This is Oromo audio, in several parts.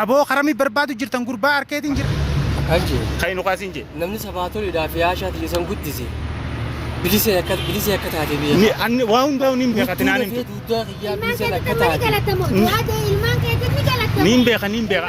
Aboo karami barbaadu jirtan gurbaa arkeetiin jira. Akkaan jee. Kan nu kaasin jee. Namni sabaatoliidhaa fi haashaa tiyya san guddise. Bilisee akka bilisee akka taate biyya. Ni anni waa hundaa niin beeka tinaan himtu. Duddaa kiyyaa biliseen akka taate. Niin beeka niin beeka.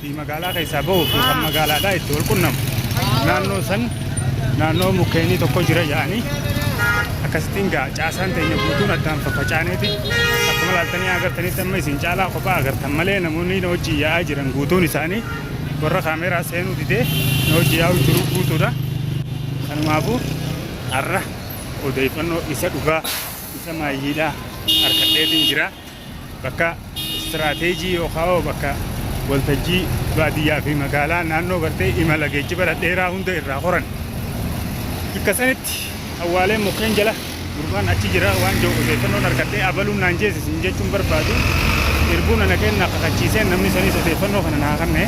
fi magaalaa keessaa bahuu fi kan magaalaadhaa itti wal qunnamu naannoo san naannoo mukkeenii tokko jira jedhanii akkasittiin gaa caasaan teenya guutuun addaan faffacaaneeti akkuma laaltanii agartanitti amma isin caalaa kophaa agartan malee namoonni na wajjin yaa'aa jiran guutuun isaanii warra kaameeraa seenuu didee na wajjin yaa'u jiru guutuudha kanumaafuu har'a odeeffannoo isa dhugaa isa maayyiidhaa harkadheetiin jira. Bakka istiraateejii yookaan bakka waltajjii baadiyyaa fi magaalaa naannoo gartee imala geejjiba dhadheeraa hunda irraa horan. Bakka sanitti awwaaleen mukkeen jala gurbaan achi jira waan jiru odeeffannoon argadhee abaluun naan jeesisin jechuun barbaadu irbuun ana kennaa kakachiiseen namni saniis odeeffannoo kana naa kanne.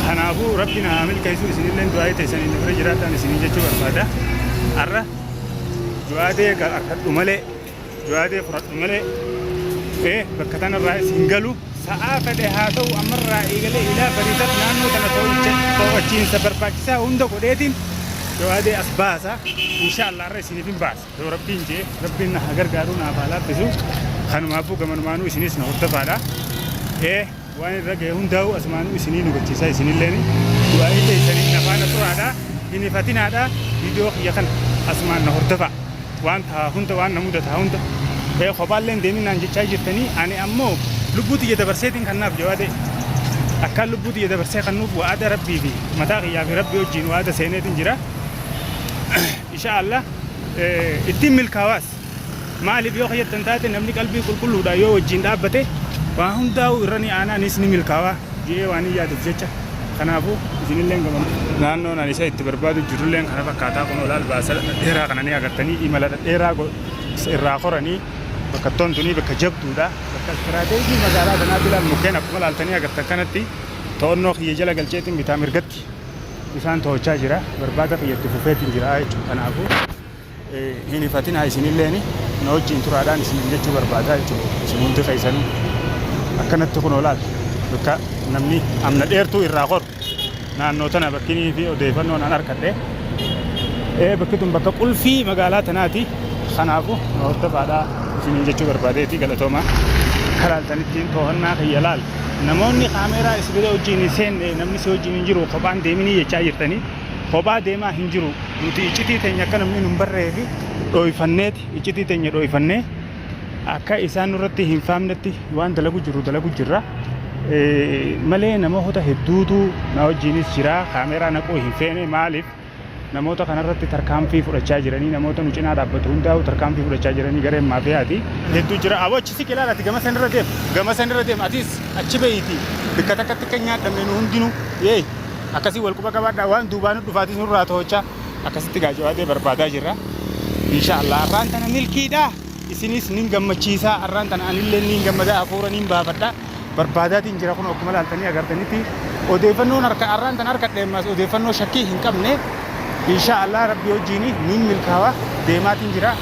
Kanaafuu rabbi na haa milkeessu isinillee du'aa teessanii na bira jiraadhaan isiniin jechuu barbaada. Har'a du'aa ta'e harkadhu malee Yoo yaadee fudhadhu malee ee bakka tanarraa is hin galu. Sa'aa fedhe haa ta'u ammarraa eegalee ilaa bariisatti naannoo tana to'achiinsa barbaachisaa hunda godheetiin yoo yaadee as baasa. Inshaallah irra isiniif hin baasa. Yoo rabbiin jee rabbiin na haa gargaaru naaf haa laaffisu. Kanumaafuu gamanumaanuu isinis na hordofaadha. Ee Waan irra gahe hundaa'uu asumaanuu isinii nugachiisaa isinilleeni du'aa'ii teessaniin na faana turaadhaa hin hifatinaadhaa viidiyoo kiyya kana asumaan na hordofaa waan tahaa hunda waan na mudataa hunda ee kophaallee hin deemin naan jechaa jirtanii ani ammoo lubbuu tiyya dabarseetiin kannaaf jawaadee akkaan lubbuu tiyya dabarsee kannuuf wa'ada rabbii fi mataa kiyyaa fi rabbii wajjiin wa'ada seeneetiin jira insha Allah ittiin milkaawaas Maaliif yoo kayyattan taate namni qalbii qulqulluudhaan yoo wajjiin dhaabbate waa hundaa'uu irra ni aanaa nis ni milkaawaa jedhee waan hin yaaduuf jecha kanaafuu isinilleen gama naannoon ani isa itti barbaadu jirulleen kana fakkaataa kunoo laal baasa dhadheeraa kana ni agartanii imala dhadheeraa irraa koranii bakkattoon tunii bakka jabduudha bakka istiraateejii magaalaa kanaatti laal mukkeen akkuma laaltanii agartan kanatti to'annoo kiyya jala galcheetiin bitaa mirgatti isaan to'achaa jira barbaada kiyyatti fufeetiin jira jechuudha kanaafuu Hin hifatinaa isinilleeni na wajjiin turaadhaan isiniin jechuu barbaadaa jechuudha. Isin hundi keessanuu akkanatti kunoo laata bakka namni amna dheertuu irraa koru naannoo tana bakkinii fi odeeffannoon an arkadhe ee bakki tun bakka qulfii magaalaa tanaati kanaafu na hordofaadhaa isiniin jechuu barbaadeeti galatoomaa. Akka laaltanittiin toohannaa kiyya laal namoonni kaameeraa isin bira wajjiin hin seenne namni si wajjiin hin jiru kophaan deeminii jechaa jirtanii. Kophaa deemaa hin jiru. Nuti iccitii teenya akka namni nu hin barreefi dhooyfanneeti. Iccitii teenya dhooyfannee akka isaan nurratti hin faamnetti waan dalagu jirru dalagu jirra. Malee namoota hedduutu na wajjiinis jira. Kaameeraa naquu hin feene maaliif namoota kanarratti tarkaanfii fudhachaa jiranii namoota nu cinaa dhaabbatu hundaa'u tarkaanfii fudhachaa jiranii gareen maafiyaati. Hedduu jira. Aboo achi siqi ilaala ati gama san irra deem. Gama san irra deem atis achi beeyti bikka takkatti akka hin nyaadhamne nu hundinuu. Yee. Akkasii wal quba qabaadhaa waan duubaa nu dhufaatis nurraa to'ochaa akkasitti gaa jawaadee barbaadaa jirra. Insha Allah arraan tana milkiidha. Isinis nin gammachiisaa arraan tana anillee nin gammadaa hafuura nin baafadha. Barbaadaatiin jira kun akkuma laaltanii agartanitti odeeffannoon harka arraan tana harka dheemmaas odeeffannoo shakkii hin qabne. Insha Allah rabbi wajjiin nin milkaawa deemaatiin jira.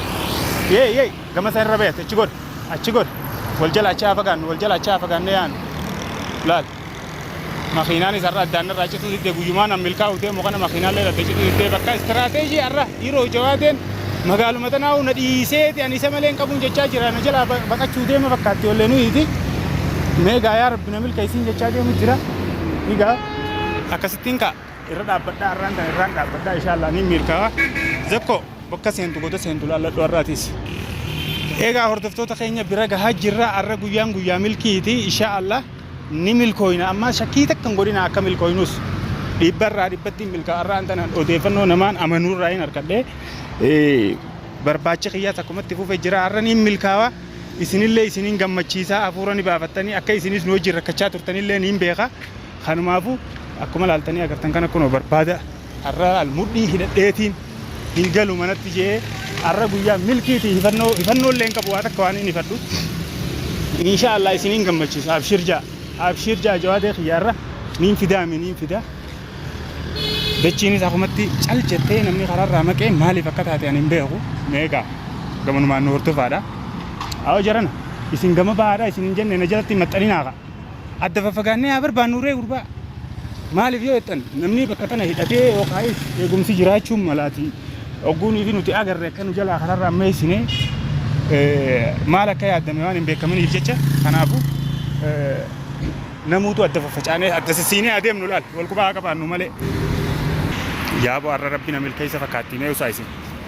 Yee yee gama sana irra bayate achi godhe achi godhe wal jala achi haa fagaannu wal jala achi haa fagaanne yaanu laal. Makiinaanis har'a addaan narraa cituu didde guyyumaan an milkaa'uuf deemu kana makiinaalleen adda cituu diddee bakka istiraateejii har'a Hiiroo Jawaateen magaaluma tanaa'uu na dhiiseeti ani isa malee hin qabuun jechaa jira na jalaa ba- baqachuu deema fakkaatti ollee nuyiiti mee gaa yaa rabbi na milkeessiin jechaa deemu jira egaa akkasittiin ka'a irra dhaabbadhaa irraan tan irraan dhaabbadhaa inshaallah niin milkaa'a zakko bakka seentu goda seentu laalladhu har'aatiis egaa hordoftoota keenya bira gahaa jirra har'a guyyaan guyyaa milkiiti inshaallah ni milkooyna ammaa shakkii takka hin godhina akka milkooynus dhibbarraa dhibbatti milkaa'arraan tanan odeeffannoo namaan amanuurraa hin harkadhe barbaachi kiyyaa takkumatti fufe jira har'a niin milkaawa isinillee isinin gammachiisaa hafuura ni baafattanii akka isinis nu wajjin rakkachaa turtanillee niin beeka kanumaafuu akkuma laaltanii agartan kana kunoo barbaada Arra al mudhii hidhadheetiin hin galu manatti je'ee arra guyyaa milkiiti hifannoo hifannoollee hin qabu waa takka waan hin hifadhu insha Allah isin hin gammachiisa abshir ja'a abshir ja'a jawaadee kiyya arra niin fidaa mi niin fidaa dachiinis akumatti cal jettee namni karaarraa maqee maaliif akka taate ani hin beeku meegaa gamanumaan nu hordofaadha awa jarana isin gama bahaadha isin hin jenne na jalatti hin maxxaninaa ka'a Adda faffagaannee haa barbaannu ree gurbaa. Maaliif yoo jettan namni bakka tana hidhatee yookaayis eegumsi jiraachuun malaati ogguunii fi nuti agarre akka nu jalaa kanarra ammeessine maal akka yaadame waan hin beekaminiif jecha kanaafu namuutu adda faffacaanee adda sissiinee adeemnu laal wal qubaa haa qabaannu malee. Yaabo arra rabbi na milkeessa fakkaatti mee usaa isin.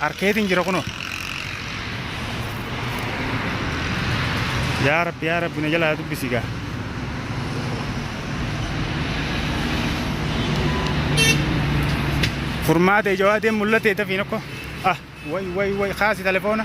Arkeetiin jira kunoo. Yaa rabbi yaa rabbi na jalaa dubbisi gaa. Furmaata ija waadeen mul'ate dafiin akkoo. Ah way way way kaasi telefoona.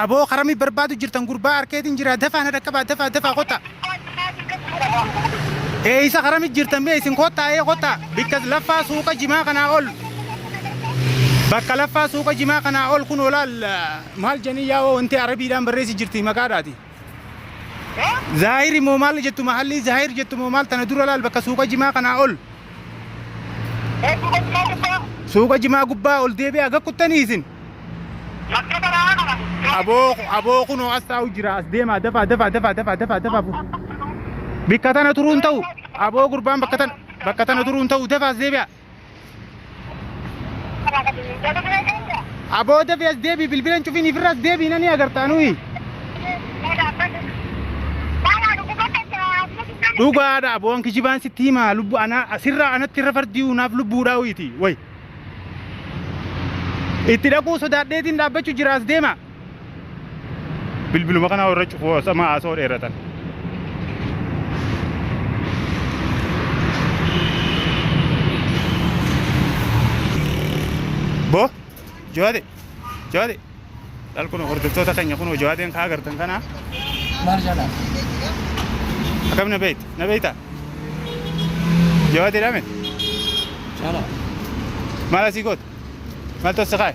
Aboo karami barbaadu jirtan gurbaa arkeetiin jira dafaa na dhaqqabaa dafaa dafaa kottaa. Eeysa karami jirtan mee isin kottaa ee kottaa bikka laffaa suuqa jimaa kanaa ol. Bakka laffaa suuqa jimaa kanaa ol kun olaal maal janii yaa wanti arabiidhaan barreessi jirti maqaadhaati. Zaahiri moo maal jettu mahallii Zaahir jettu moo maal tana dura laal bakka suuqa jimaa kanaa ol. Suuqa jimaa gubbaa ol deebi'aa akka kuttanii isin. Aboo aboo kunoo as taa'u jira as deemaa dafaa dafaa dafaa dafaa dafaa dafaa. bu- Bikka tana turuun ta'u aboo gurbaan bakka tana bakka tana turuun ta'u dafaa as deebi'aa. Abooda fi as deebii bilbila hin cufiin ifirra as deebii nani agartaa nuyi. Dhugaadha aboon kijibaan sitti himaa lubbu anaa asirraa anatti irra fardii unaaf lubbuudhaa uyiiti wayi. Itti dhaquu sodaadheetiin dhaabbachuu jira as deemaa. bilbiluma kana warra cufu osama haasoo dheeratan. Bo jawaade jawaade laal kun hordoftoota keenya kun jawaadeen kaa agartan kana Maal jedha? akkam na beekta na beekta jawaadee dhaame Jala. maal asii goota maal tossa kaa'e.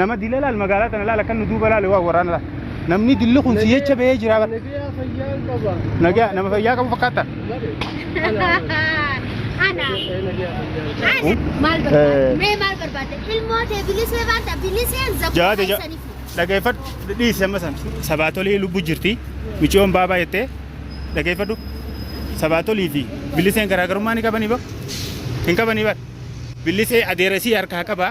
nama dila laal magaalaa tana laal akkan nu duuba laale waa waraana laal namni dilli kun si jecha ba'ee jira bar Nagaa fayyaa qaba. nagaa nama fayyaa qabu fakkaata Ana. Eh, nagaa fayyaa. Ana. Maal Eh. barbaadde? Mee maal barbaadde? Ilmoo tee bilisee baata biliseen zakuu jawaada ja- keessaniif. dhageeffadhu dhiisi amma san sabaatolii lubbu jirti miciyoon baabaa jettee dhageeffadhu sabaatolii fi biliseen garaagarummaa ni qabanii bar hin qabanii bar bilisee adeeresii harkaa qabaa